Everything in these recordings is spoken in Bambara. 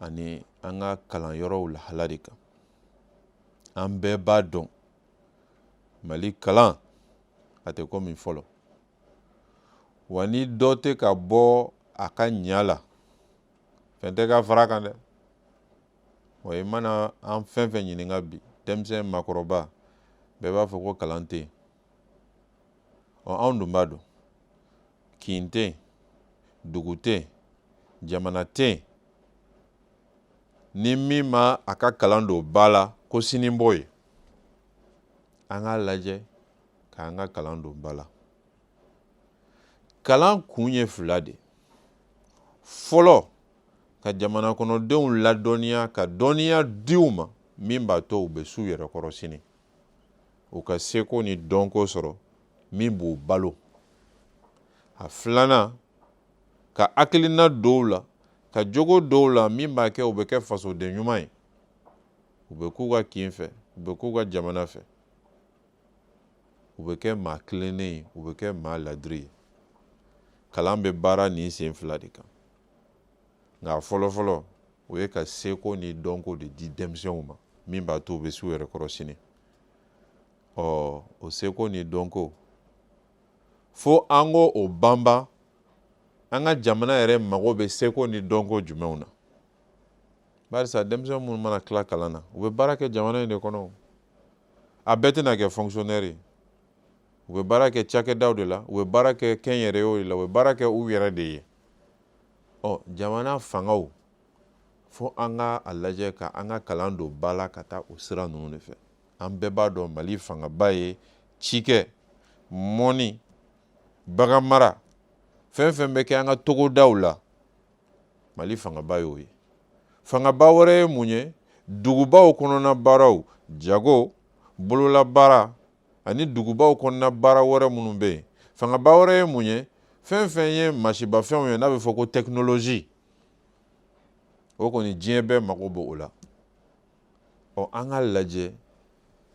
ani an ka kalan yɔrɔw lahala de kan an bɛɛ b'a dɔn mali kalan a tɛ komi fɔlɔ wa ni dɔ tɛ ka bɔ a ka ɲa la fɛn tɛ ka fara kan dɛ wa i mana an fɛn fɛn ɲininka bi denmisɛn makɔrɔba bɛɛ b'a fɔ ko kalan tɛ yen ɔ anw dun b'a dɔn kin tɛ yen dugu tɛ yen jamana tɛ yen ni min ma a ka kalan don ba la ko sini b'o ye an k'a lajɛ k'an ka kalan don ba la kalan kun ye fila de fɔlɔ ka jamana kɔnɔdenw ladɔnniya ka dɔnniya di u ma min b'a to u bɛ s'u yɛrɛ kɔrɔ sini u ka seko ni dɔnko sɔrɔ min b'u balo a filanan ka hakilina don u la ka jogo don u la min b'a kɛ u bɛ kɛ fasoden ɲuman ye u bɛ k'u ka kin fɛ u bɛ k'u ka jamana fɛ u bɛ kɛ maa tilennen ye u bɛ kɛ maa ladiri ye kalan bɛ baara nin sen fila de kan nka fɔlɔfɔlɔ o ye ka seko ni dɔnko de di denmisɛnw ma min b'a to u bɛ s'u yɛrɛ kɔrɔ sini ɔ o seko ni dɔnko fo an k'o banban an ka jamana yɛrɛ mago bɛ seko ni dɔnko jumɛnw na barisa denmisɛn minnu mana tila kalan na u bɛ baara kɛ jamana in de kɔnɔ a bɛɛ tɛna kɛ fonkisiyonɛri ye u bɛ baara kɛ cakɛdaw de la u bɛ baara kɛ kɛnyɛrɛyew de la u bɛ baara kɛ u yɛrɛ de ye ɔ jamana fangaw fo an ka a lajɛ ka an ka kalan don ba la ka taa o sira ninnu de fɛ an bɛɛ b'a dɔn mali fangaba ye cikɛ mɔni baganmara fɛn fɛn bɛ kɛ an ka togodaw la mali fangaba y'o ye fangaba wɛrɛ ye mun ye dugubaw kɔnɔna baaraw jago bololabaara ani dugubaw kɔnɔna baara wɛrɛ minnu bɛ yen fangaba wɛrɛ ye mun ye fɛn fɛn ye masinmafɛnw ye n'a bɛ fɔ ko tɛkinolozi o kɔni diɲɛ bɛɛ mago b'o la ɔ an k'a lajɛ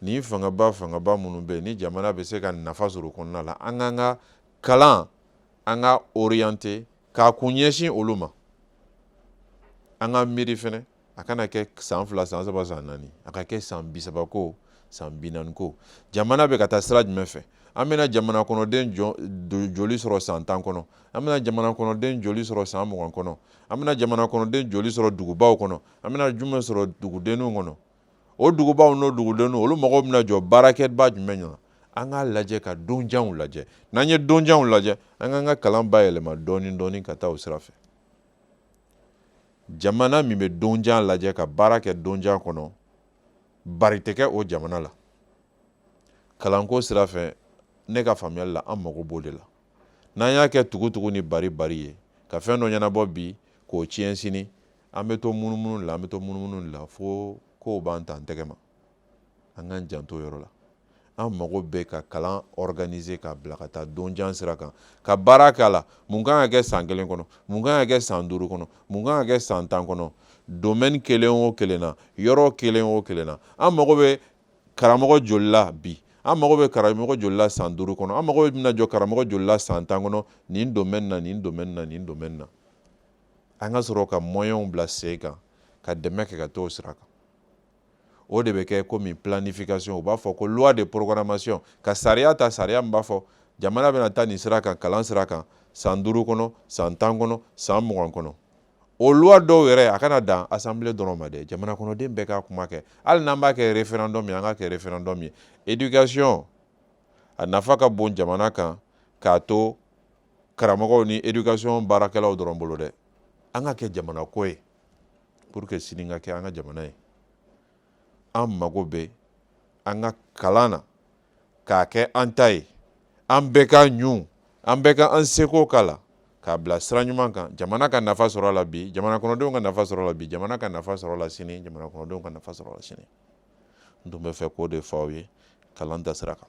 nin fangaba fangaba minnu bɛ yen ni jamana bɛ se ka nafa sɔrɔ kɔnɔna la an k'an ka kalan an k'a oriyante k'a kun ɲɛsin olu ma an ka miiri fɛnɛ a kana kɛ san fila san saba san naani a ka kɛ san bisaba ko san bi naani ko jamana bɛ ka taa sira jumɛn fɛ an bɛna jamana kɔnɔden joli sɔrɔ san tan kɔnɔ an bɛna jamana kɔnɔden joli sɔrɔ san mugan kɔnɔ an bɛna jamana kɔnɔden joli sɔrɔ dugubaw kɔnɔ an bɛna jumɛn sɔrɔ dugudenninw kɔnɔ o dugubaw n'o dugudenninw olu mago bɛna jɔ baarakɛbaa jumɛn na an k'a lajɛ ka donjanw lajɛ n'an ye donjanw lajɛ an k'an ka kalan bayɛlɛma dɔɔnin dɔɔnin ka taa o sira fɛ jamana min bɛ donjan lajɛ ka baara kɛ donjan kɔnɔ bari tɛ kɛ o jamana la kalanko sira fɛ ne ka faamuyali la an mago b'o de la n'an y'a kɛ tugutugu ni bari bari ye ka fɛn dɔ ɲɛnabɔ bi k'o tiɲɛ sini an bɛ to munumunu de la an bɛ to munumunu de la fo kow b'an ta an tɛgɛ ma an k'an janto o yɔrɔ la an mago bɛ ka kalan organiser ka bila ka taa donjan sira kan ka baara k'a la mun kan ka kɛ san kelen kɔnɔ mun kan ka kɛ san duuru kɔnɔ mun kan ka kɛ san tan kɔnɔ domaine kelen o kelen na yɔrɔ kelen o kelen na an mago bɛ karamɔgɔ joli la bi an mago bɛ karamɔgɔ joli la san duuru kɔnɔ an mago bɛna jɔ karamɔgɔ joli la san tan kɔnɔ nin domaine na nin domaine na nin domaine na an ka sɔrɔ ka moyens bila sen kan ka dɛmɛ kɛ ka t'o sira kan o de bɛ kɛ komi planification u b'a fɔ ko loi de programmation ka sariya ta sariya min b'a fɔ jamana bɛna taa nin sira kan kalan sira kan san duuru kɔnɔ san tan kɔnɔ san mugan kɔnɔ o loi dɔw yɛrɛ a kana dan assemblée dɔrɔn ma dɛ jamana kɔnɔden bɛɛ k'a kuma kɛ hali n'an b'a kɛ référendum ye an k'a kɛ référendum ye éducation a nafa ka bon jamana kan k'a to karamɔgɔw ni éducation baarakɛlaw dɔrɔn bolo dɛ an k'a kɛ jamana ko ye pour que sini ka kɛ an ka jamana ye an mago bɛ an ka kalan na k'a kɛ an ta ye an bɛɛ k'a ɲun an bɛɛ ka an seko k'a la k'a bila sira ɲuman kan jamana ka nafa sɔrɔ la bi jamana kɔnɔdenw ka nafa sɔrɔ la bi jamana ka nafa sɔrɔ la sini jamana kɔnɔdenw ka nafa sɔrɔ la sini n tun bɛ fɛ k'o de fɔ aw ye kalan ta sira kan